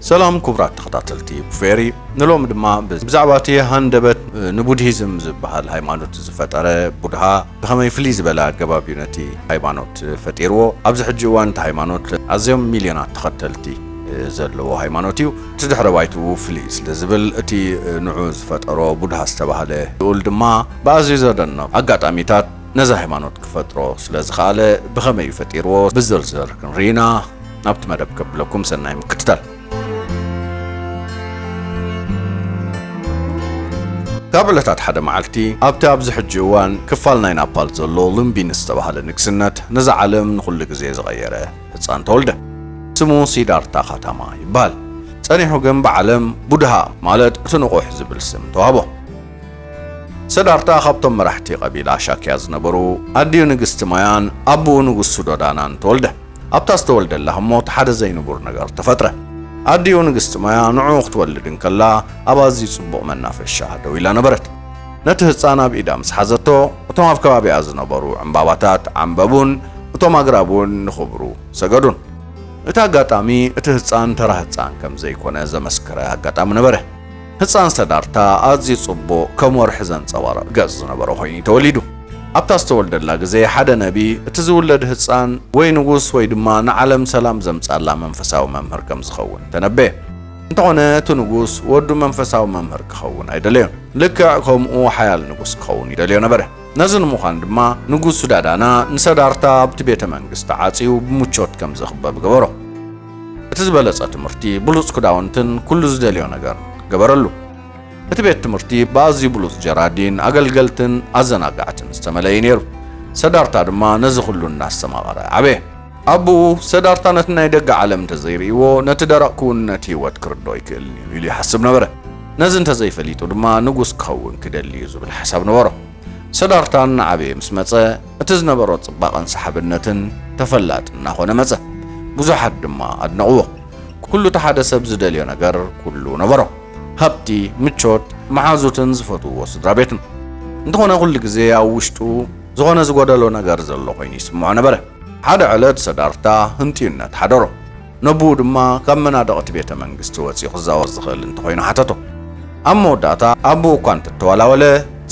ሰላም ክቡራት ተኸታተልቲ ቡፌሪ ንሎሚ ድማ ብዛዕባ እቲ ሃንደበት ንቡድሂዝም ዝበሃል ሃይማኖት ዝፈጠረ ቡድሃ ብኸመይ ፍልይ ዝበለ ኣገባብ እዩ ነቲ ሃይማኖት ፈጢርዎ ኣብዚ ሕጂ እዋን እቲ ሃይማኖት ኣዝዮም ሚልዮናት ተኸተልቲ ዘለዎ ሃይማኖት እዩ እቲ ድሕረ ባይትኡ ፍልይ ስለ ዝብል እቲ ንዑ ዝፈጠሮ ቡድሃ ዝተባህለ ልኡል ድማ ብኣዝዩ ዘደንቕ ኣጋጣሚታት ነዛ ሃይማኖት ክፈጥሮ ስለ ዝኸኣለ ብኸመይ እዩ ፈጢርዎ ብዝርዝር ክንርኢ ኢና ናብቲ መደብ ከብለኩም ሰናይ ምክትታል። ካብ ዕለታት ሓደ መዓልቲ ኣብቲ ኣብዚ ሕጂ እዋን ክፋል ናይ ናፓል ዘሎ ሉምቢኒ ዝተባህለ ንግስነት ነዛ ዓለም ንኹሉ ግዜ ዝቐየረ ህፃን ተወልደ። ስሙ ሲዳርታ ካታማ ይበሃል። ጸኒሑ ግን ብዓለም ቡድሃ ማለት እቲ ንቑሕ ዝብል ስም ተዋህቦ። ሰዳርታ ካብቶም መራሕቲ ቀቢላ ሻክያ ዝነበሩ ኣዲኡ ንግስቲ ማያን ኣቡኡ ንጉስ ሱዶዳናን ተወልደ። ኣብታ ዝተወልደላ ህሞት ሓደ ዘይንቡር ነገር ተፈጥረ። ኣዲኡ ንግስቲ ማያ ንዕኡ ክትወልድ እንከላ ኣብ ኣዝዩ ጽቡቕ መናፈሻ ደው ኢላ ነበረት። ነቲ ህጻን ኣብ ኢዳ ምስ ሓዘቶ እቶም ኣብ ከባቢኣ ዝነበሩ ዕንባባታት ዓምበቡን እቶም ኣግራብ እውን ንኽብሩ ሰገዱን። እቲ ኣጋጣሚ እቲ ህጻን ተራ ህጻን ከም ዘይኮነ ዘመስከረ ኣጋጣሚ ነበረ። ህጻን ሰዳርታ ኣዝዩ ጽቡቕ ከም ወርሒ ዘንጸባርቕ ገጽ ዝነበሮ ኮይኑ እዩ ተወሊዱ። ኣብታ ዝተወልደላ ግዜ ሓደ ነቢ እቲ ዝውለድ ህጻን ወይ ንጉስ ወይ ድማ ንዓለም ሰላም ዘምጻላ መንፈሳዊ መምህር ከም ዝኸውን ተነበየ። እንተኾነ እቲ ንጉስ ወዱ መንፈሳዊ መምህር ክኸውን ኣይደለዮን። ልክዕ ከምኡ ሓያል ንጉስ ክኸውን ይደልዮ ነበረ። ነዚ ንምዃን ድማ ንጉስ ሱዳዳና ንሰዳርታ ኣብቲ ቤተ መንግስቲ ዓጽዩ ብምቾት ከም ዝኽበብ ገበሮ። እቲ ዝበለጸ ትምህርቲ ብሉጽ ክዳውንትን ኩሉ ዝደልዮ ነገር ገበረሉ። እቲ ቤት ትምህርቲ ብኣዝዩ ብሉጽ ጀራዲን፣ ኣገልገልትን ኣዘናጋዕትን ዝተመልአ እዩ ነይሩ። ሰዳርታ ድማ ነዚ ኩሉ እናስተማቐረ ዓበየ። ኣቦኡ፣ ሰዳርታ ነቲ ናይ ደገ ዓለም እንተ ዘይርእይዎ፣ ነቲ ደረቕ ክውንነት ህይወት ክርድኦ ኣይክእልን እዩ ኢሉ ይሓስብ ነበረ። ነዚ እንተ ዘይፈሊጡ ድማ ንጉስ ክኸውን ክደሊ እዩ ዝብል ሓሳብ ነበሮ። ሰዳርታ እናዓበየ ምስ መጸ፣ እቲ ዝነበሮ ጽባቐን ሰሓብነትን ተፈላጢ እናኾነ መጸ። ብዙሓት ድማ ኣድነቕዎ። ኩሉ እቲ ሓደ ሰብ ዝደልዮ ነገር ኩሉ ነበሮ። ሃብቲ፣ ምቾት፣ መሓዙትን ዝፈትውዎ ስድራ ቤትን። እንተኾነ ኩሉ ግዜ ኣብ ውሽጡ ዝኾነ ዝጎደሎ ነገር ዘሎ ኮይኑ ይስምዖ ነበረ። ሓደ ዕለት ሰዳርታ ህንጥዩነት ሓደሮ። ነቡኡ ድማ ካብ መናድቕ'ቲ ቤተ መንግስቲ ወጺኡ ክዛወር ዝኽእል እንተኾይኑ ሓተቶ። ኣብ መወዳእታ ኣቡኡ እኳ እንተተዋላወለ፣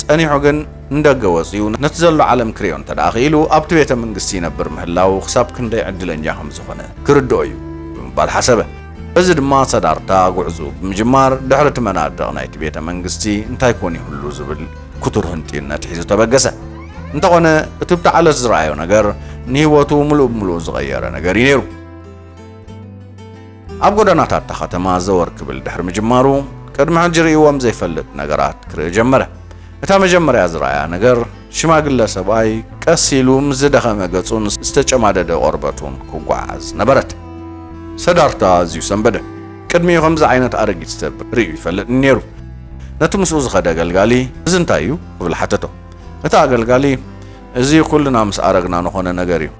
ጸኒሑ ግን ንደገ ወጺኡ ነቲ ዘሎ ዓለም ክርእዮ እንተደኣ ክኢሉ፣ ኣብቲ ቤተ መንግስቲ ይነብር ምህላዉ ክሳብ ክንደይ ዕድለኛ ከም ዝኾነ ክርድኦ እዩ ብምባል ሓሰበ። በዚ ድማ ሰዳርታ ጉዕዝኡ ብምጅማር ድሕሪ እቲ መናድቕ ናይቲ ቤተ መንግስቲ እንታይ ኮን ይህሉ ዝብል ክቱር ህንጥዩነት ሒዙ ተበገሰ። እንተኾነ እቲ ብቲ ዓለት ዝረኣዮ ነገር ንህይወቱ ምሉእ ብምሉእ ዝቐየረ ነገር እዩ ነይሩ። ኣብ ጎደናታት እታ ኸተማ ዘወር ክብል ድሕሪ ምጅማሩ ቅድሚ ሕጂ ርእይዎም ዘይፈልጥ ነገራት ክርኢ ጀመረ። እታ መጀመርያ ዝረኣያ ነገር ሽማግለ ሰብኣይ ቀስ ኢሉ ምስ ዝደኸመ ገጹን ዝተጨማደደ ቆርበቱን ክጓዓዝ ነበረት። ሰዳርታ ኣዝዩ ሰንበደ። ቅድሚኡ ከምዚ ዓይነት ኣረጊት ሰብ ርእዩ ይፈልጥን ነይሩ። ነቲ ምስኡ ዝኸደ ኣገልጋሊ እዚ እንታይ እዩ? ክብል ሓተቶ። እቲ ኣገልጋሊ እዚ ኩልና ምስ ኣረግና ንኾነ ነገር እዩ።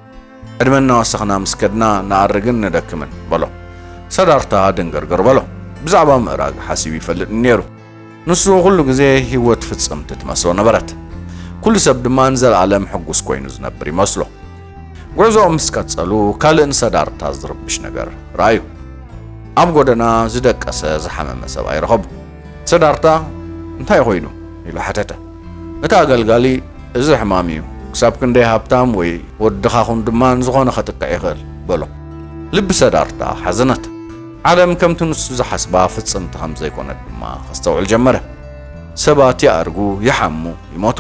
ዕድመ እናወሰኽና ምስ ከድና ንኣርግን ንደክምን በሎ። ሰዳርታ ድንግርግር በሎ። ብዛዕባ ምእራግ ሓሲቡ ይፈልጥኒ ነይሩ። ንሱ ኩሉ ግዜ ህይወት ፍጽምቲ ትመስሎ ነበረት። ኩሉ ሰብ ድማ ንዘለኣለም ሕጉስ ኮይኑ ዝነብር ይመስሎ። ጉዕዞኦም ምስ ቀጸሉ ካልእ ንሰዳርታ ዝርብሽ ነገር ረኣዩ። ኣብ ጎደና ዝደቀሰ ዝሓመመ ሰብኣይ ረኸቡ። ሰዳርታ እንታይ ኮይኑ ኢሉ ሓተተ። እቲ ኣገልጋሊ እዚ ሕማም እዩ፣ ክሳብ ክንደይ ሃብታም ወይ ወዲ ድኻ ኹን ድማ ንዝኾነ ከጥቅዕ ይኽእል በሎ። ልቢ ሰዳርታ ሓዘነት። ዓለም ከምቲ ንሱ ዝሓስባ ፍጽምቲ ከም ዘይኮነት ድማ ከስተውዕል ጀመረ። ሰባት ይኣርጉ፣ ይሓሙ፣ ይሞቱ።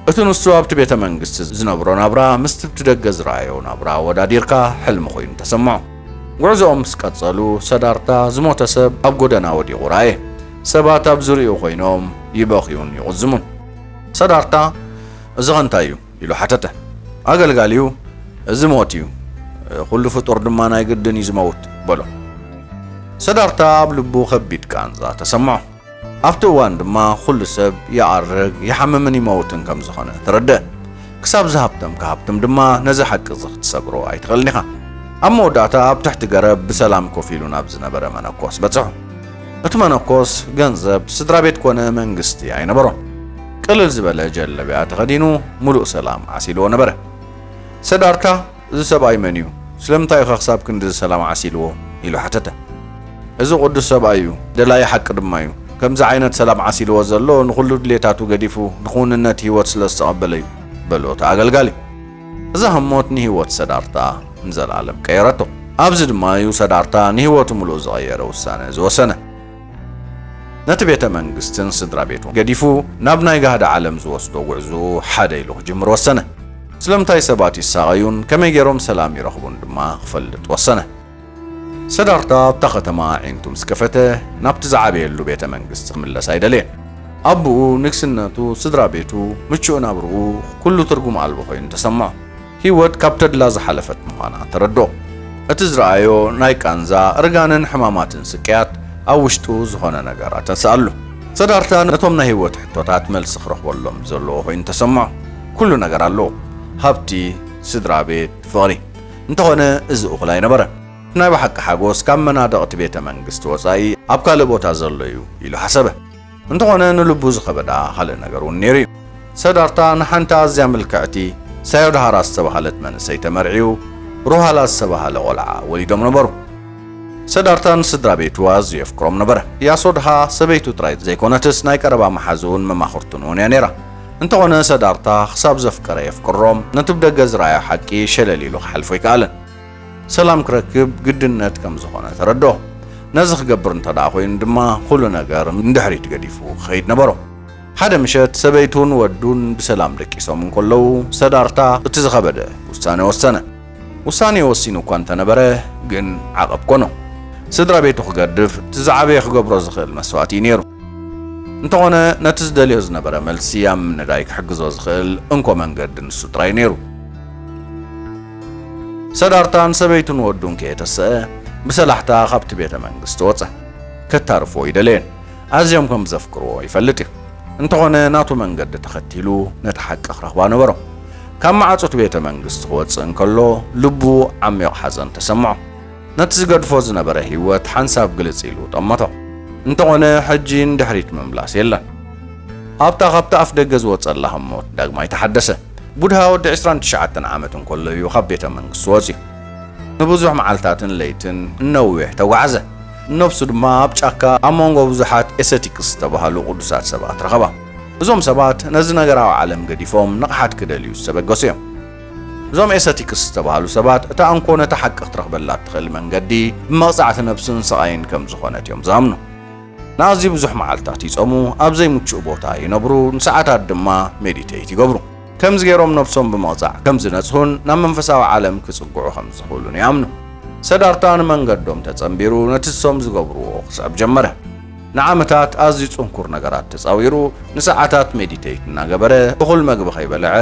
እቲ ንሱ ኣብቲ ቤተ መንግስቲ ዝነብሮ ናብራ ምስቲ ብደገ ዝረኣዮ ናብራ ኣወዳዲርካ ሕልሚ ኮይኑ ተሰምዖ። ጉዕዞኦም ምስ ቀጸሉ ሰዳርታ ዝሞተ ሰብ ኣብ ጎደና ወዲቑ ረኣየ። ሰባት ኣብ ዙርያኡ ዀይኖም ይበኽዩን ይቝዝሙን። ሰዳቕታ፣ እዚኸ እንታይ እዩ? ኢሉ ሓተተ። ኣገልጋሊኡ፣ እዚ ሞት እዩ፣ ዅሉ ፍጡር ድማ ናይ ግድን እዩ ዚመውት፣ በሎ። ሰዳቕታ ኣብ ልቡ ኸቢድ ቃንዛ ተሰምዖ። ኣብቲ እዋን ድማ ዅሉ ሰብ ይኣርግ፣ ይሓምምን ይመውትን ከም ዝዀነ ተረድአ። ክሳብ ዝሃብተምካ ሃብትም ድማ ነዚ ሓቂ እዚ ኽትሰግሮ ኣይትኽእልን ኢኻ። ኣብ መወዳእታ ኣብ ትሕቲ ገረብ ብሰላም ኮፍ ኢሉ ናብ ዝነበረ መነኮስ በጽሑ። እቲ መነኮስ ገንዘብ ስድራቤት ኮነ መንግስቲ ኣይነበሮን። ቅልል ዝበለ ጀለብያ ተኸዲኑ ምሉእ ሰላም ዓሲልዎ ነበረ። ሰዳርታ እዚ ሰብኣይ መን እዩ? ስለምንታይ እዩ ከ ክሳብ ክንድዚ ሰላም ዓሲልዎ? ኢሉ ሓተተ። እዚ ቅዱስ ሰብኣይ እዩ፣ ደላዪ ሓቂ ድማ እዩ። ከምዚ ዓይነት ሰላም ዓሲልዎ ዘሎ ንኹሉ ድሌታቱ ገዲፉ ንክውንነት ህይወት ስለ ዝተቐበለ እዩ በሉ እቲ ኣገልጋሊ። እዛ ህሞት ንህይወት ሰዳርታ ንዘለኣለም ቀየረቶ። ኣብዚ ድማ እዩ ሰዳርታ ንህይወቱ ምሉእ ዝቐየረ ውሳነ ዝወሰነ። ነቲ ቤተ መንግስትን ስድራ ቤቱን ገዲፉ ናብ ናይ ጋህዲ ዓለም ዝወስዶ ጉዕዞኡ ሓደ ኢሉ ክጅምር ወሰነ። ስለምንታይ ሰባት ይሳቐዩን ከመይ ገይሮም ሰላም ይረኽቡን ድማ ክፈልጥ ወሰነ። ሰዳርታ ኣብታ ከተማ ኣዒንቱ ምስ ከፈተ ናብቲ ዝዓበየሉ ቤተ መንግስቲ ክምለስ ኣይደለየን። ኣቡኡ፣ ንግስነቱ፣ ስድራ ቤቱ፣ ምቹእ ናብርኡ ኩሉ ትርጉም ኣልቦ ኮይኑ ተሰምዖ። ህይወት ካብ ተድላ ዝሓለፈት ምዃና ተረድኦ። እቲ ዝረኣዮ ናይ ቃንዛ፣ እርጋንን ሕማማትን ስቅያት ኣብ ውሽጡ ዝኾነ ነገር ኣተንስኣሉ። ሰዳርታ ነቶም ናይ ህይወት ሕቶታት መልሲ ክረኽበሎም ዘለዎ ኮይኑ ተሰምዖ። ኩሉ ነገር ኣለዎ፣ ሃብቲ፣ ስድራ ቤት፣ ፍቕሪ። እንተኾነ እዚ እኹል ኣይነበረን። ናይ ብሓቂ ሓጎስ ካብ መናድቕ'ቲ ቤተ መንግስቲ ወጻኢ ኣብ ካልእ ቦታ ዘሎ'ዩ ኢሉ ሓሰበ። እንተኾነ ንልቡ ዝኸበዳ ካልእ ነገር'ውን ነይሩ'ዩ። ሰዳርታ ንሓንቲ ኣዝያ ምልክዕቲ ሳዮድሃራ ዝተባህለት መንእሰይ ተመርዕዩ ሩሃላ ዝተባህለ ቆልዓ ወሊዶም ነበሩ። ሰዳርታ ንስድራ ቤቱ ኣዝዩ የፍቅሮም ነበረ። ያሶድሃ ሰበይቱ ጥራይ ዘይኮነትስ ናይ ቀረባ መሓዝኡን መማኽርቱን'ውን'ያ ነይራ። እንተኾነ ሰዳርታ ክሳብ ዘፍቀረ የፍቅሮ ነቲ ብደገ ዝረኣዮ ሓቂ ሸለል ኢሉ ክሓልፎ ኣይከኣለን። ሰላም ክረክብ ግድነት ከም ዝኾነ ተረድኦ። ነዚ ክገብር እንተደኣ ኮይኑ ድማ ኹሉ ነገር ንድሕሪት ገዲፉ ክኸይድ ነበሮ። ሓደ ምሸት ሰበይቱን ወዱን ብሰላም ደቂሶም እንከለዉ ሰዳርታ እቲ ዝኸበደ ውሳነ ወሰነ። ውሳኔ ወሲኑ እኳ እንተነበረ ግን ዓቐብ ኮኖ። ስድራ ቤቱ ክገድፍ እቲ ዝዓበየ ክገብሮ ዝኽእል መስዋእቲ እዩ ነይሩ። እንተኾነ ነቲ ዝደልዮ ዝነበረ መልሲ ኣብ ምንዳይ ክሕግዞ ዝኽእል እንኮ መንገዲ ንሱ ጥራይ እዩ ነይሩ። ሰዳርታ ንሰበይቱን ወዱን ከየተሰኣ ብሰላሕታ ካብቲ ቤተ መንግስቲ ወጸ። ከታርፎ ኣይደለየን። ኣዝዮም ከም ዘፍቅርዎ ይፈልጥ እዩ። እንተኾነ ናቱ መንገዲ ተኸቲሉ ነታ ሓቂ ክረኽባ ነበሮ። ካብ መዓጹቲ ቤተ መንግስቲ ክወጽእ እንከሎ ልቡ ዓሚቕ ሓዘን ተሰምዖ። ነቲ ዝገድፎ ዝነበረ ህይወት ሓንሳብ ግልጽ ኢሉ ጠመቶ። እንተኾነ ሕጂ ንድሕሪት ምምላስ የለን። ኣብታ ካብቲ ኣፍደገ ዝወጸላ ህሞት ዳግማይ ተሓደሰ። ቡድሃ ወዲ ዕስራን ትሽዓተን ዓመት እንከሎ እዩ ካብ ቤተ መንግስቲ ወጺኡ። ንብዙሕ መዓልታትን ለይትን ንነዊሕ ተጓዕዘ። ንነፍሱ ድማ ኣብ ጫካ ኣብ መንጎ ብዙሓት ኤሰቲክስ ዝተባህሉ ቅዱሳት ሰባት ረኸባ። እዞም ሰባት ነዚ ነገራዊ ዓለም ገዲፎም ንቕሓት ክደልዩ ዝተበገሱ እዮም። እዞም ኤሰቲክስ ዝተባህሉ ሰባት እታ እንኮ ነታ ሓቂ ክትረኽበላ እትኽእል መንገዲ ብመቕጻዕቲ ነብስን ስቓይን ከም ዝኾነት እዮም ዝኣምኑ። ንኣዝዩ ብዙሕ መዓልታት ይጾሙ፣ ኣብ ዘይምቹእ ቦታ ይነብሩ፣ ንሰዓታት ድማ ሜዲተይት ይገብሩ። ከምዚ ገይሮም ነፍሶም ብምቕጻዕ ከም ዝነጽሁን ናብ መንፈሳዊ ዓለም ክጽግዑ ከም ዝኽእሉን ይኣምኑ። ሰዳርታ ንመንገዶም ተጸንቢሩ ነቲ ንሶም ዝገብርዎ ክስዕብ ጀመረ። ንዓመታት ኣዝዩ ጽንኩር ነገራት ተጻዊሩ፣ ንሰዓታት ሜዲተይት እናገበረ፣ እኹል መግቢ ከይበልዐ፣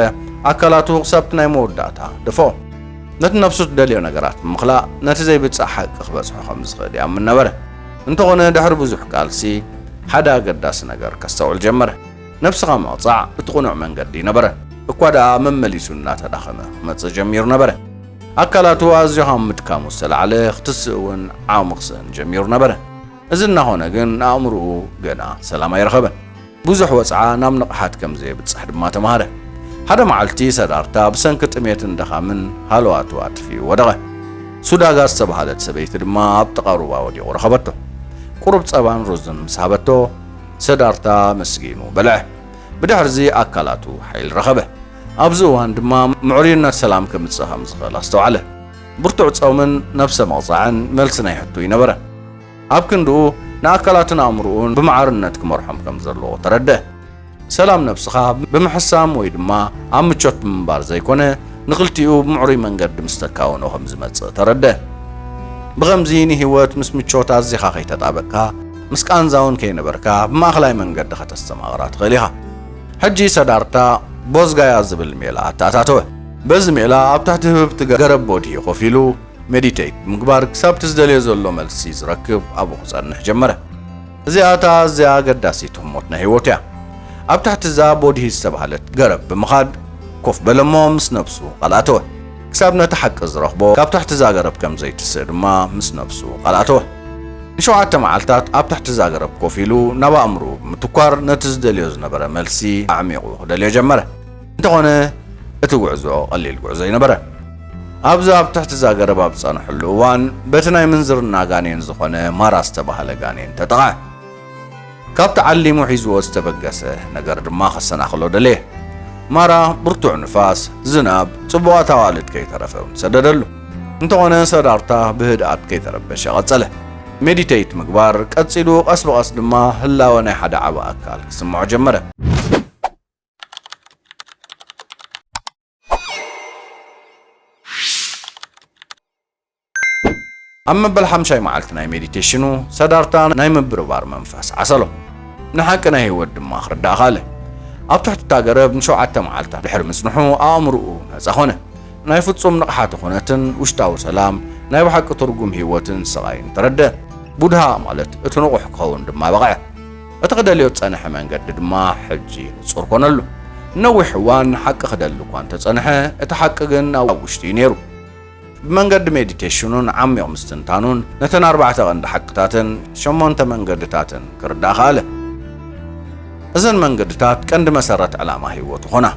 ኣካላቱ ክሳብቲ ናይ መወዳእታ ደፍኦ። ነቲ ነፍሱ ትደልዮ ነገራት ብምኽላእ ነቲ ዘይብጻሕ ሓቂ ክበጽሖ ከም ዝኽእል ይኣምን ነበረ። እንተኾነ ድሕሪ ብዙሕ ቃልሲ ሓደ ኣገዳሲ ነገር ከስተውዕል ጀመረ። ነብስኻ ምቕጻዕ እቲ ቅኑዕ መንገዲ ነበረ። እኳ ደኣ መመሊሱ እናተዳኸመ ክመጽእ ጀሚሩ ነበረ። ኣካላቱ ኣዝዩ ካብ ምድካሙ ዝተላዕለ ክትስእ እውን ዓቕሚ ክስእን ጀሚሩ ነበረ። እዚ እናኾነ ግን ኣእምሮኡ ገና ሰላም ኣይረኸበን። ብዙሕ ወጽዓ ናብ ንቕሓት ከም ዘየብጽሕ ድማ ተማህረ። ሓደ መዓልቲ ሰዳርታ ብሰንኪ ጥሜትን ድኻምን ሃለዋቱ ኣጥፊኡ ወደቐ። ሱዳጋ ዝተባህለት ሰበይቲ ድማ ኣብ ጥቓ ሩባ ወዲቑ ረኸበቶ። ቁሩብ ጸባን ሩዝን ምስ ሃበቶ፣ ሰዳርታ ኣመስጊኑ በልዐ። ብድሕርዚ ኣካላቱ ሓይሊ ረኸበ። ኣብዚ እዋን ድማ ምዕሩይነት ሰላም ከምጽእ ከም ዝኽእል ኣስተውዓለ። ብርቱዕ ጾምን ነብሰ ምቕጻዕን መልሲ ናይ ሕቶኡ ነበረ። ኣብ ክንድኡ ንኣካላቱን ኣእምሮኡን ብማዕርነት ክመርሖም ከም ዘለዎ ተረድኣ። ሰላም ነብስኻ ብምሕሳም ወይ ድማ ኣብ ምቾት ብምንባር ዘይኮነ፣ ንኽልቲኡ ብምዕሩይ መንገዲ ምስ ተካውኖ ከም ዝመጽእ ተረድኣ። ብኸምዚ ንህይወት ምስ ምቾት ኣዚኻ ከይተጣበቕካ፣ ምስ ቃንዛ ውን ከይነበርካ ብማእከላይ መንገዲ ከተስተማቕራ ትኽእል ኢኻ። ሕጂ ሰዳርታ ቦዝጋያ ዝብል ሜላ ኣተኣታተወ። በዚ ሜላ ኣብ ትሕቲ ህብብቲ ገረብ ቦድሂ ኮፍ ኢሉ፣ ሜዲተይት፣ ብምግባር ክሳብ'ቲ ዝደልዮ ዘሎ መልሲ ዝረክብ ኣብኡ ክጸንሕ ጀመረ። እዚኣ እታ ኣዝያ ኣገዳሲት ህሞት ናይ ህይወቱ እያ። ኣብ ትሕቲ እዛ ቦድሂ ዝተባህለት ገረብ ብምኻድ ኮፍ በለ'ሞ ምስ ነብሱ ቃል ኣተወ። ክሳብ ነቲ ሓቂ ዝረኽቦ ካብ ትሕቲ'ዛ ገረብ ከም ዘይትስእ ድማ ምስ ነብሱ ቃል ኣተወ። ንሸውዓተ መዓልታት ኣብ ትሕቲ'ዛ ገረብ ኮፍ ኢሉ ናብ ኣእምሮኡ ብምትኳር ነቲ ዝደልዮ ዝነበረ መልሲ ኣዕሚቑ ክደልዮ ጀመረ። እንተኾነ እቲ ጉዕዞ ቀሊል ጉዕዞ ኣይነበረን። ኣብ'ዛ ኣብ ትሕቲ'ዛ ገረብ ኣብ ዝጸንሐሉ እዋን በቲ ናይ ምንዝርና ጋኔን ዝኾነ ማራ ዝተባህለ ጋኔን ተጠቕዐ። ካብቲ ዓሊሙ ሒዝዎ ዝተበገሰ ነገር ድማ ከሰናኽሎ ደለየ። ማራ ብርቱዕ ንፋስ፣ ዝናብ፣ ጽቡቓት ኣዋልድ ከይተረፈ እውን ሰደደሉ። እንተኾነ ሰዳርታ ብህድኣት ከይተረበሸ ቀጸለ። ሜዲተይት ምግባር ቀጺሉ ቀስ ብቐስ ድማ ህላወ ናይ ሓደ ዓቢ ኣካል ክስምዖ ጀመረ። ኣብ መበል ሓምሻይ መዓልቲ ናይ ሜዲቴሽኑ ሰዳርታ ናይ ምብርባር መንፈስ ዓሰሎ ንሓቂ ናይ ህይወት ድማ ክርዳእ ካለ ኣብ ትሕቲ እታ ገረብ ንሸውዓተ መዓልታት ድሕሪ ምጽንሑ ኣእምርኡ ነጻ ኾነ ናይ ፍጹም ንቕሓተ ኹነትን ውሽጣዊ ሰላም ናይ ብሓቂ ትርጉም ህይወትን ስቓይን ተረደ ቡድሃ ማለት እቲ ንቑሕ ክኸውን ድማ በቕዐ እቲ ክደልዮ ዝጸንሐ መንገዲ ድማ ሕጂ ንጹር ኮነሉ። ንነዊሕ እዋን ንሓቂ ክደሊ እኳ እንተ ጸንሐ፣ እቲ ሓቂ ግን ኣብ ውሽጡ እዩ ነይሩ። ብመንገዲ ሜዲቴሽኑን ዓሚቕ ምስትንታኑን ነተን ኣርባዕተ ቀንዲ ሓቅታትን ሸሞንተ መንገድታትን ክርዳእ ከኣለ። እዘን መንገድታት ቀንዲ መሰረት ዕላማ ህይወቱ ኮና።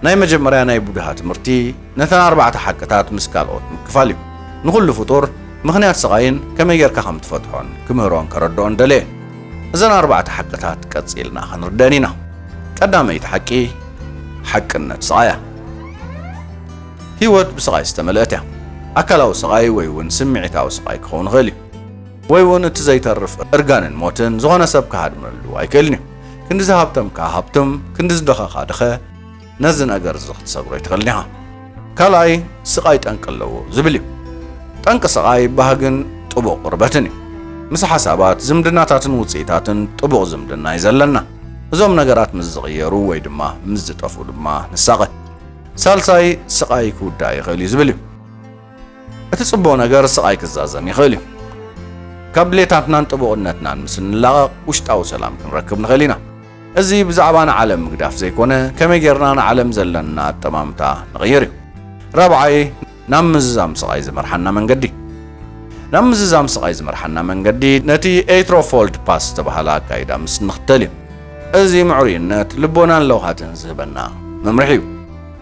ናይ መጀመርያ ናይ ቡድሃ ትምህርቲ ነተን ኣርባዕተ ሓቅታት ምስ ካልኦት ምክፋል እዩ። ንኹሉ ፍጡር ምኽንያት ስቓይን ከመይ ጌርካ ከም ትፈትሖን ክምህሮን ከረድኦን ደለየ። እዘን ኣርባዕተ ሓቅታት ቀጺልና ክንርደን ኢና። ቀዳመይቲ ሓቂ ሓቅነት ስቓይ እያ። ህይወት ብስቓይ ዝተመልአት እያ። ኣካላዊ ስቓይ ወይ እውን ስምዒታዊ ስቓይ ክኸውን ይኽእል እዩ። ወይ እውን እቲ ዘይተርፍ እርጋንን ሞትን ዝኾነ ሰብ ክሃድመሉ ኣይክእልን እዩ። ክንዲ ዝሃብተምካ ሃብትም፣ ክንዲ ዝደኸኻ ድኸ። ነዚ ነገር እዚ ክትሰብሮ ኣይትኽእልን ኢኻ። ካልኣይ ስቓይ ጠንቂ ኣለዎ ዝብል እዩ። ጠንቂ ስቓይ ባህግን ጥቡቕ ቅርበትን እዩ። ምስ ሓሳባት፣ ዝምድናታትን ውጽኢታትን ጥቡቕ ዝምድና እዩ ዘለና። እዞም ነገራት ምስ ዝቕየሩ ወይ ድማ ምስ ዝጠፍኡ ድማ ንሳቐ። ሳልሳይ ስቓይ ክውዳእ ይኽእል እዩ ዝብል እዩ። እቲ ጽቡቕ ነገር ስቓይ ክዛዘም ይኽእል እዩ። ካብ ድሌታትናን ጥቡቕነትናን ምስ እንላቐቕ ውሽጣዊ ሰላም ክንረክብ ንኽእል ኢና። እዚ ብዛዕባ ንዓለም ምግዳፍ ዘይኮነ ከመይ ጌርና ንዓለም ዘለና ኣጠማምታ ንቕይር እዩ። ራብዓይ ናብ ምዝዛም ስቓይ ዝመርሓና መንገዲ። ናብ ምዝዛም ስቓይ ዝመርሓና መንገዲ ነቲ ኤይትሮፎልድ ፓስ ዝተባህለ ኣካይዳ ምስ እንኽተል እዩ። እዚ ምዕሩይነት፣ ልቦናን ለውሃትን ዝህበና መምርሒ እዩ።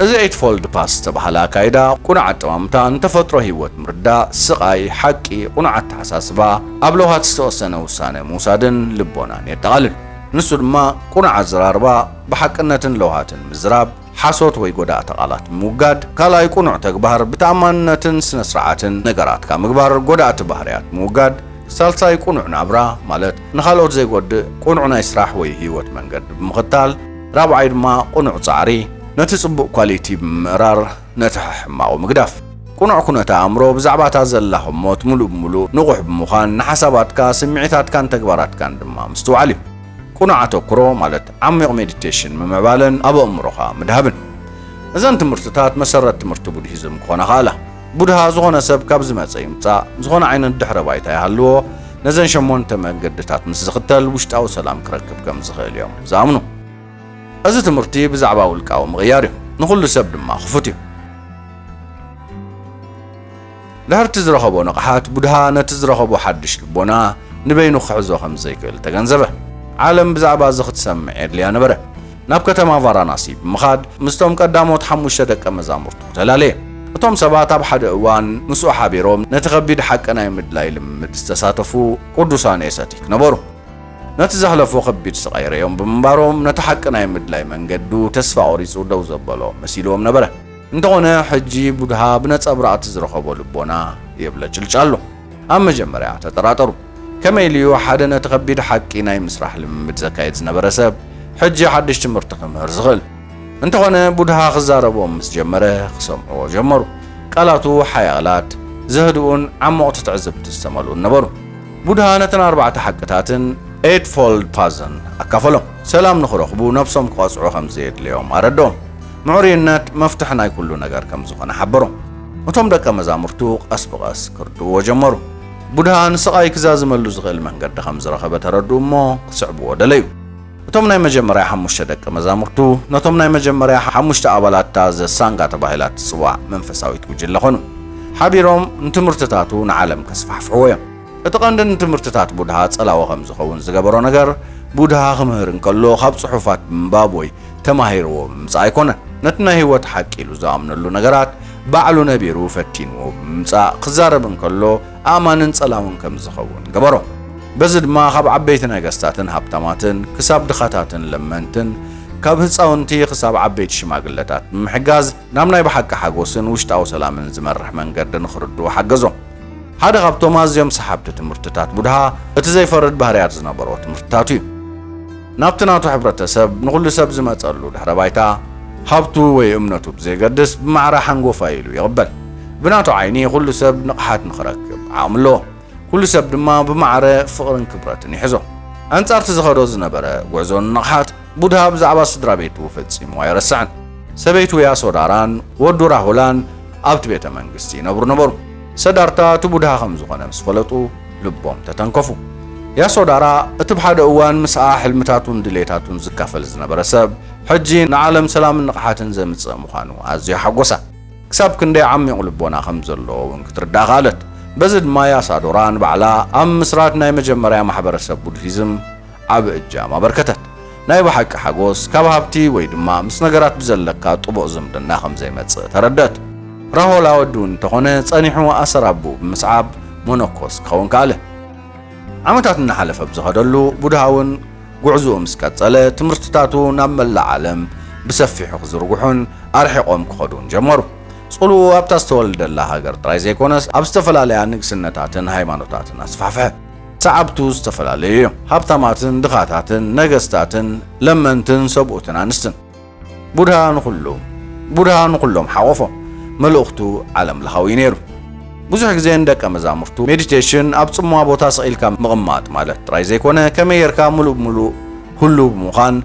እዚ ኤይትፎልድ ፓስ ዝተባህለ ኣካይዳ፣ ቅኑዕ ኣጠማምታ ንተፈጥሮ ህይወት ምርዳእ፣ ስቓይ፣ ሓቂ፣ ቅኑዕ ኣተሓሳስባ፣ ኣብ ለውሃት ዝተወሰነ ውሳነ ምውሳድን ልቦናን የጠቓልል። ንሱ ድማ ቅኑዕ ኣዘራርባ፣ ብሓቅነትን ለውሃትን ምዝራብ፣ ሓሶት ወይ ጎዳእቲ ቃላት ምውጋድ፣ ካልኣይ ቅኑዕ ተግባር፣ ብተኣማንነትን ስነስርዓትን ነገራትካ ምግባር፣ ጎዳእቲ ባህርያት ምውጋድ፣ ሳልሳይ ቅኑዕ ናብራ፣ ማለት ንኻልኦት ዘይጎድእ ቅኑዕ ናይ ስራሕ ወይ ህይወት መንገዲ ብምኽታል፣ ራብዓይ ድማ ቁኑዕ ጻዕሪ ነቲ ጽቡቅ ኳሊቲ ብምምእራር ነቲ ሕሕማቁ ምግዳፍ። ቁኑዕ ኩነተ ኣእምሮ ብዛዕባ እታ ዘላ ህሞት ሙሉእ ብሙሉእ ንቁሕ ብምዃን ንሓሳባትካ ስሚዒታትካን ተግባራትካን ድማ ምስትውዓል እዩ። ቁኑዕ ኣተኩሮ ማለት ዓሚቅ ሜዲቴሽን ምምዕባለን ኣብ ኣእምሮኻ ምድሃብን። እዘን ትምህርትታት መሰረት ትምህርቲ ቡድሂዝም ክኾና ከኣላ። ቡድሃ ዝኾነ ሰብ ካብ ዝመጸ ይምጻእ ዝኾነ ዓይነት ድሕረ ባይታ ይሃልዎ ነዘን ሸሞንተ መንገድታት ምስ ዝኽተል ውሽጣዊ ሰላም ክረክብ ከም ዝኽእል እዮም ዝኣምኑ። እዚ ትምህርቲ ብዛዕባ ውልቃዊ ምቕያር እዩ፣ ንኹሉ ሰብ ድማ ክፉት እዩ። ድሕርቲ ዝረኸቦ ንቕሓት፣ ቡድሃ ነቲ ዝረኸቦ ሓድሽ ልቦና ንበይኑ ክሕዞ ከም ዘይክእል ተገንዘበ። ዓለም ብዛዕባ እዚ ክትሰምዕ የድልያ ነበረ። ናብ ከተማ ቫራናሲ ብምኻድ ምስቶም ቀዳሞት ሓሙሽተ ደቀ መዛሙርቱ ተላለየ። እቶም ሰባት ኣብ ሓደ እዋን ምስኡ ሓቢሮም ነቲ ከቢድ ሓቂ ናይ ምድላይ ልምምድ ዝተሳተፉ ቅዱሳን ኤሰቲክ ነበሩ። ነቲ ዘሕለፎ ከቢድ ስቓይ ርእዮም ብምንባሮም ነቲ ሓቂ ናይ ምድላይ መንገዱ ተስፋ ቈሪጹ ደው ዘበሎ መሲልዎም ነበረ። እንተዀነ ሕጂ ቡድሃ ብነጸብራቕ'ቲ ዝረኸቦ ልቦና የብለጭልጭ ኣሎ። ኣብ መጀመርያ ተጠራጠሩ። ከመይ ኢሉ እዩ ሓደ ነቲ ከቢድ ሓቂ ናይ ምስራሕ ልምምድ ዘካይድ ዝነበረ ሰብ ሕጂ ሓድሽ ትምህርቲ ክምህር ዝኽእል? እንተዀነ ቡድሃ ክዛረቦም ምስ ጀመረ ክሰምዕዎ ጀመሩ። ቃላቱ ሓያላት፣ ዘህድኡን ዓሞቕቲ ትዕዝብቲ ዝተመልኡን ነበሩ። ቡድሃ ነተን ኣርባዕተ ሓቅታትን ኤይትፎልድ ፓዝን ኣካፈሎም። ሰላም ንኽረኽቡ ነብሶም ክቐጽዑ ከም ዘየድልዮም ኣረድኦም። ምዕሩይነት መፍትሕ ናይ ኵሉ ነገር ከም ዝዀነ ሓበሮም። እቶም ደቀ መዛሙርቱ ቀስ ብቐስ ክርድእዎ ጀመሩ። ቡድሃ ንስቓይ ክዛዝመሉ ዝኽእል መንገዲ ኸም ዝረኸበ ተረድኡ እሞ ክስዕብዎ ደለዩ። እቶም ናይ መጀመርያ ሓሙሽተ ደቀ መዛሙርቱ ነቶም ናይ መጀመርያ ሓሙሽተ ኣባላት እታ ዘ ሳንጋ ተባሂላ እትጽዋዕ መንፈሳዊት ጕጅለ ዀኑ። ሓቢሮም ንትምህርትታቱ ንዓለም ከስፋሕፍሕዎ ኢዮም። እቲ ቐንዲ ንትምህርትታት ቡድሃ ጸላዊ ኸም ዝኸውን ዝገበሮ ነገር፣ ቡድሃ ኽምህር እንከሎ ኻብ ጽሑፋት ብምንባብ ወይ ተማሂርዎ ብምምጻእ ኣይኰነን። ነቲ ናይ ህይወት ሓቂ ኢሉ ዝኣምነሉ ነገራት ባዕሉ ነቢሩ ፈቲንዎ ብምምጻእ ክዛረብ እንከሎ ኣእማንን ጸላውን ከም ዝኸውን ገበሮ። በዚ ድማ ካብ ዓበይቲ ነገስታትን ሃብታማትን ክሳብ ድኻታትን ለመንትን፣ ካብ ህጻውንቲ ክሳብ ዓበይቲ ሽማግለታት ብምሕጋዝ ናብ ናይ ብሓቂ ሓጎስን ውሽጣዊ ሰላምን ዝመርሕ መንገዲ ንኽርድኡ ሓገዞም። ሓደ ካብቶም ኣዝዮም ሰሓብቲ ትምህርትታት ቡድሃ እቲ ዘይፈርድ ባህርያት ዝነበሮ ትምህርትታቱ እዩ። ናብቲ ናቱ ሕብረተሰብ ንኹሉ ሰብ ዝመጸሉ ድሕረ ባይታ፣ ሃብቱ ወይ እምነቱ ብዘየገድስ ብማዕረ ሓንጎፋይ ኢሉ ይቕበል። ብናቱ ዓይኒ ኩሉ ሰብ ንቕሓት ንኽረክብ ዓቕሚ ኣለዎ። ኩሉ ሰብ ድማ ብማዕረ ፍቕርን ክብረትን ይሕዞ። ኣንጻርቲ ዝኸዶ ዝነበረ ጉዕዞ ንንቕሓት፣ ቡድሃ ብዛዕባ ስድራ ቤቱ ፈጺሙ ኣይረስዐን። ሰበይቱ ያሶዳራን ወዱ ራሁላን ኣብቲ ቤተ መንግስቲ ይነብሩ ነበሩ። ሰዳርታ እቲ ቡድሃ ከም ዝኾነ ምስ ፈለጡ፣ ልቦም ተተንከፉ። ያሶ ዳራ እቲ ብሓደ እዋን ምስኣ ሕልምታቱን ድሌታቱን ዝካፈል ዝነበረ ሰብ ሕጂ ንዓለም ሰላምን ንቕሓትን ዘምጽእ ምዃኑ ኣዝዩ ሓጎሳ። ክሳብ ክንደይ ዓሚቝ ልቦና ከም ዘለዎ እውን ክትርዳእ ከኣለት። በዚ ድማ ያሳዶራ ንባዕላ ኣብ ምስራት ናይ መጀመርያ ማሕበረሰብ ቡድሂዝም ዓቢ እጃም ኣበርከተት። ናይ ብሓቂ ሓጎስ ካብ ሃብቲ ወይ ድማ ምስ ነገራት ብዘለካ ጥቡቕ ዝምድና ከም ዘይመጽእ ተረድእት። ራሆል ኣወዲ እውን እንተኾነ ጸኒሑ ኣሰር ኣቦኡ ብምስዓብ መነኮስ ክኸውን ከኣለ። ዓመታት እናሓለፈ ብዝኸደሉ፣ ቡድሃ እውን ጉዕዞኡ ምስ ቀጸለ፣ ትምህርትታቱ ናብ መላእ ዓለም ብሰፊሑ ክዝርግሑን ኣርሒቖም ክኸዱን ጀመሩ። ጽልውኡ ኣብታ ዝተወልደላ ሃገር ጥራይ ዘይኮነስ ኣብ ዝተፈላለያ ንግስነታትን ሃይማኖታትን ኣስፋሕፍሐ። ሰዓብቱ ዝተፈላለዩ እዮም፣ ሃብታማትን ድኻታትን፣ ነገስታትን ለመንትን ሰብኡትን ኣንስትን። ቡድሃ ንኹሉ ቡድሃ ንኹሎም ሓቖፎም፣ መልእኽቱ ዓለም ለኻዊ እዩ ነይሩ። ብዙሕ ግዜ ንደቀ መዛሙርቱ ሜዲቴሽን ኣብ ጽምዋ ቦታ ስቕ ኢልካ ምቕማጥ ማለት ጥራይ ዘይኮነ ከመይ ጌርካ ምሉእ ብምሉእ ህሉው ብምዃን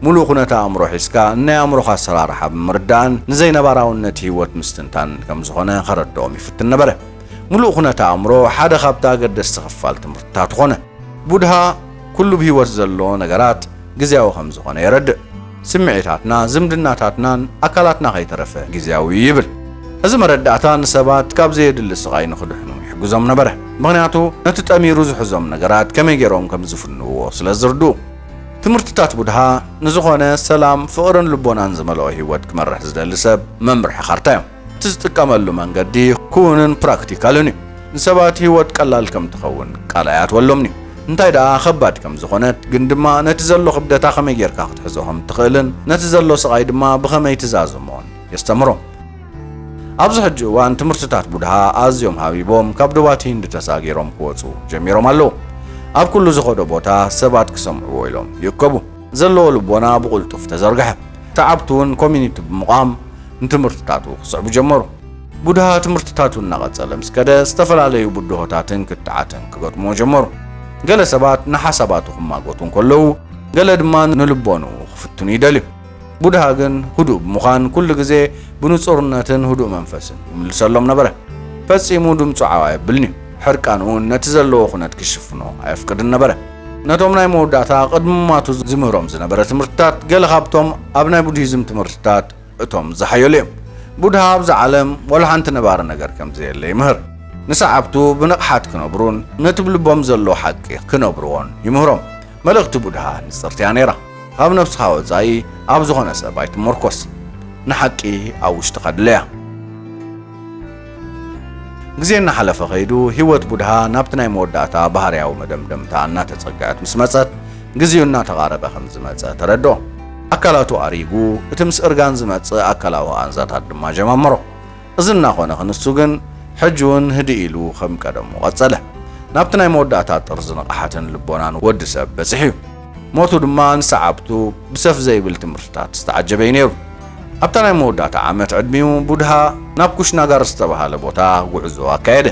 ምሉእ ኩነተ ኣእምሮ ሒዝካ ንናይ ኣእምሮኻ ኣሰራርሓ ብምርዳእን ንዘይነባራውነት ህይወት ምስትንታን ከም ዝኾነ ከረድኦም ይፍትን ነበረ። ምሉእ ኩነት ኣእምሮ ሓደ ካብቲ ኣገደስቲ ክፋል ትምህርትታት ኾነ። ቡድሃ ኩሉ ብህይወት ዘሎ ነገራት ግዝያዊ ከም ዝኾነ የረድእ። ስምዒታትና፣ ዝምድናታትናን ኣካላትና ከይተረፈ ግዝያዊ እዩ ይብል። እዚ መረዳእታ ንሰባት ካብ ዘየድሊ ስቓይ ንኽድሕኑ ይሕግዞም ነበረ፣ ምኽንያቱ ነቲ ጠሚሩ ዝሕዞም ነገራት ከመይ ገይሮም ከም ዝፍንውዎ ስለ ዝርድኡ። ትምህርትታት ቡድሃ ንዝኾነ ሰላም፣ ፍቕርን ልቦናን ዝመልኦ ህይወት ክመርሕ ዝደሊ ሰብ መምርሒ ካርታ እዮም። እቲ ዝጥቀመሉ መንገዲ ኩውንን ፕራክቲካልን እዩ። ንሰባት ህይወት ቀላል ከም ትኸውን ቃል ኣይኣትወሎምን እዩ። እንታይ ደኣ ኸባድ ከም ዝዀነት፣ ግን ድማ ነቲ ዘሎ ኽብደታ ኸመይ ጌርካ ኽትሕዞ ኸም እትኽእልን ነቲ ዘሎ ስቓይ ድማ ብኸመይ ትዛዝሞን የስተምህሮም። ኣብዚ ሕጂ እዋን ትምህርትታት ቡድሃ ኣዝዮም ሃቢቦም ካብ ዶባት ሂንድ ተሳጊሮም ክወጹ ጀሚሮም ኣለዉ። ኣብ ኩሉ ዝኸዶ ቦታ ሰባት ክሰምዕዎ ኢሎም ይእከቡ። ዘለዎ ልቦና ብቕልጡፍ ተዘርግሐ። ሰዓብቱ እውን ኮሚኒቲ ብምቛም ንትምህርትታቱ ክስዕቡ ጀመሩ። ቡድሃ ትምህርትታቱ እናቐጸለ ምስ ከደ፣ ዝተፈላለዩ ብድሆታትን ክትዓትን ክገጥሙዎ ጀመሩ። ገለ ሰባት ንሓሳባቱ ክማጐቱ እንከለዉ፣ ገለ ድማ ንልቦንኡ ክፍትኑ ይደልዩ። ቡድሃ ግን ህዱእ ብምዃን ኩሉ ግዜ ብንጹርነትን ህዱእ መንፈስን ይምልሰሎም ነበረ። ፈጺሙ ድምጹ ዓው ኣየብልን'ዩ፣ ሕርቃን'ውን ነቲ ዘለዎ ኩነት ክሽፍኖ ኣየፍቅድን ነበረ። ነቶም ናይ መወዳእታ ቅድሚ ምሟቱ ዚምህሮም ዝነበረ ትምህርትታት፣ ገለ ኻብቶም ኣብ ናይ ቡድሂዝም ትምህርትታት እቶም ዝሓየሉ እዮም። ቡድሃ ኣብዛ ዓለም ዋላ ሓንቲ ነባሪ ነገር ከም ዘየለ ይምህር። ንሰዓብቱ ብንቕሓት ኪነብሩን ነቲ ብልቦም ዘሎ ሓቂ ኺነብርዎን ይምህሮም። መልእኽቲ ቡድሃ ንጽርቲ እያ ነይራ፣ ኻብ ነፍስኻ ወጻኢ ኣብ ዝዀነ ሰብ ኣይትመርኰስ። ንሓቂ ኣብ ውሽጥኻ ድለያ። ግዜ እናሓለፈ ከይዱ ህይወት ቡድሃ ናብቲ ናይ መወዳእታ ባህርያዊ መደምደምታ እናተጸግዐት ምስ መጸት፣ ግዜኡ እናተቓረበ ከም ዝመጸ ተረድኦ። ኣካላቱ ኣሪጉ፣ እቲ ምስ እርጋን ዝመጽእ ኣካላዊ ቓንዛታት ድማ ጀማመሮ። እዚ እናኾነ ክንሱ ግን ሕጂውን ህድእ ኢሉ ከም ቀደሙ ቀጸለ። ናብቲ ናይ መወዳእታ ጥርዚ ንቕሓትን ልቦናን ወዲ ሰብ በጺሑ'ዩ። ሞቱ ድማ ንሰዓብቱ ብሰፍ ዘይብል ትምህርትታት ዝተዓጀበ'ዩ ነይሩ። ኣብታ ናይ መወዳእታ ዓመት ዕድሚኡ ቡድሃ ናብ ኩሽናጋር ዝተባህለ ቦታ ጉዕዞ ኣካየደ።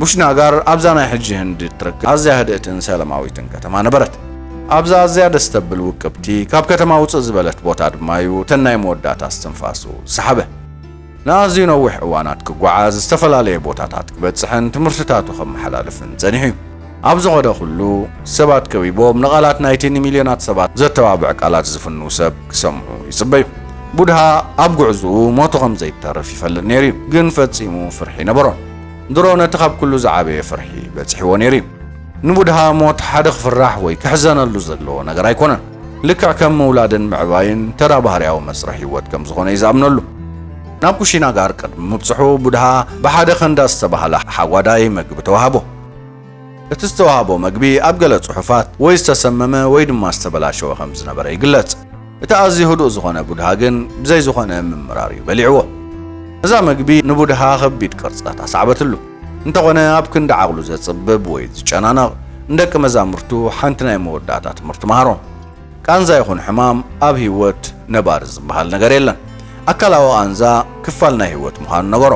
ቡሽናጋር ኣብዛ ናይ ሕጂ ህንዲ እትርከብ ኣዝያ ህድእትን ሰለማዊትን ከተማ ነበረት። ኣብዛ ኣዝያ ደስ ተብል ውቅብቲ ካብ ከተማ ውጽእ ዝበለት ቦታ ድማ'ዩ እተን ናይ መወዳእታ እስትንፋሱ ዝሰሓበ። ንኣዝዩ ነዊሕ እዋናት ክጓዓዝ፣ ዝተፈላለየ ቦታታት ክበጽሕን ትምህርትታቱ ከመሓላልፍን ጸኒሑ እዩ። ኣብ ዝኸዶ ኹሉ፣ ሰባት ከቢቦም ንቓላት ናይቲ ንሚልዮናት ሰባት ዘተባብዕ ቃላት ዝፍንው ሰብ ክሰምዑ ይጽበዩ። ቡድሃ ኣብ ጕዕዞኡ ሞቱ ኸም ዘይተርፍ ይፈልጥ ነይሩ እዩ፣ ግን ፈጺሙ ፍርሒ ኣይነበሮን። ድሮ ነቲ ኻብ ኵሉ ዝዓበየ ፍርሒ በጺሕዎ ነይሩ እዩ። ንቡድሃ ሞት ሓደ ክፍራሕ ወይ ክሕዘነሉ ዘለዎ ነገር ኣይኰነን። ልክዕ ከም ምውላድን ምዕባይን ተራ ባህርያዊ መስርሕ ህይወት ከም ዝኾነ እዩ ዝኣምነሉ። ናብ ኩሺና ጋር ቅድሚ ምብጽሑ ቡድሃ ብሓደ ከንዳ ዝተባህለ ሓጓዳይ መግቢ ተዋህቦ። እቲ ዝተዋህቦ መግቢ ኣብ ገለ ጽሑፋት ወይ ዝተሰመመ ወይ ድማ ዝተበላሸወ ከም ዝነበረ ይግለጽ። እቲ ኣዝዩ ህዱእ ዝኾነ ቡድሃ ግን ብዘይ ዝኾነ ምምራር እዩ በሊዕዎ። እዛ መግቢ ንቡድሃ ከቢድ ቅርጸት ኣስዓበትሉ። እንተኾነ ኣብ ክንዲ ዓቕሉ ዘጽብብ ወይ ዝጨናነቕ ንደቂ መዛሙርቱ ሓንቲ ናይ መወዳእታ ትምህርቲ መሃሮ። ቃንዛ ይኹን ሕማም ኣብ ህይወት ነባሪ ዝበሃል ነገር የለን። ኣካላዊ ቃንዛ ክፋል ናይ ህይወት ምዃኑ ነገሮ።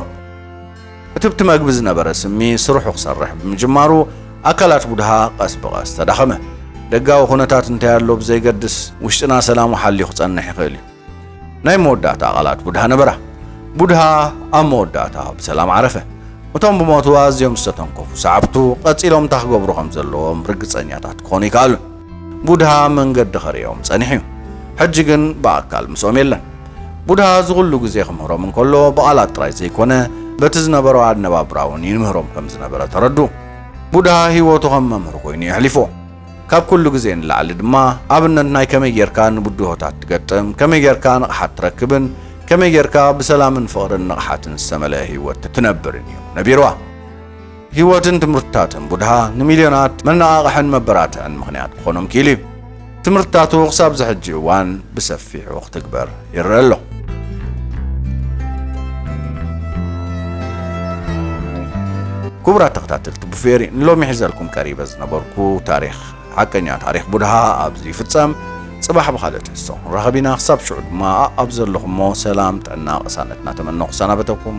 እቲ ብቲ መግቢ ዝነበረ ስሚ ስርሑ ክሰርሕ ብምጅማሩ ኣካላት ቡድሃ ቀስ ብቐስ ተዳኸመ። ደጋዊ ኩነታት እንታይ ኣሎ ብዘይገድስ፣ ውሽጥና ሰላሙ ሓልዩ ክጸንሕ ይኽእል እዩ። ናይ መወዳእታ ቃላት ቡድሃ ነበራ። ቡድሃ ኣብ መወዳእታ ብሰላም ዓረፈ። እቶም ብሞቱ ኣዝዮም ዝተተንከፉ ሰዓብቱ ቀጺሎም እንታይ ክገብሩ ከም ዘለዎም ርግጸኛታት ክኾኑ ኣይከኣሉን። ቡድሃ መንገዲ ከርእዮም ጸኒሑ እዩ። ሕጂ ግን ብኣካል ምስኦም የለን። ቡድሃ እዚ ኹሉ ግዜ ክምህሮም እንከሎ ብቓላት ጥራይ ዘይኮነ በቲ ዝነበሮ ኣነባብራ እውን ይምህሮም ከም ዝነበረ ተረድኡ። ቡድሃ ህይወቱ ከም መምህር ኮይኑ እዩ ኣሕሊፍዎ። ካብ ኩሉ ግዜ ንላዕሊ ድማ ኣብነት ናይ ከመይ ጌርካ ንብድሆታት ትገጥም፣ ከመይ ጌርካ ንቕሓት ትረክብን ከመይ ጌርካ ብሰላምን ፍቕርን ንቕሓትን ዝተመልአ ህይወት ትነብርን እዩ ነቢርዋ። ህይወትን ትምህርትታትን ቡድሃ ንሚልዮናት መነቓቕሕን መበራትዕን ምኽንያት ክኾኖም ክኢሉ እዩ። ትምህርትታቱ ክሳብ'ዚ ሕጂ እዋን ብሰፊሑ ክትግበር ይረአ ኣሎ። ክቡራት ተኸታተልቲ ቡፌሪ ንሎሚ ሒዘልኩም ቀሪበ ዝነበርኩ ታሪኽ ሓቀኛ ታሪኽ ቡድሃ ኣብዚ ይፍጸም። ጽባሕ ብኻልእ ትሕዝቶ ክንራኸብ ኢና። ክሳብ ሽዑ ድማ ኣብ ዘለኹሞ ሰላም፣ ጥዕና፣ ቅሳነት እናተመነኹ ሰናበተኩም።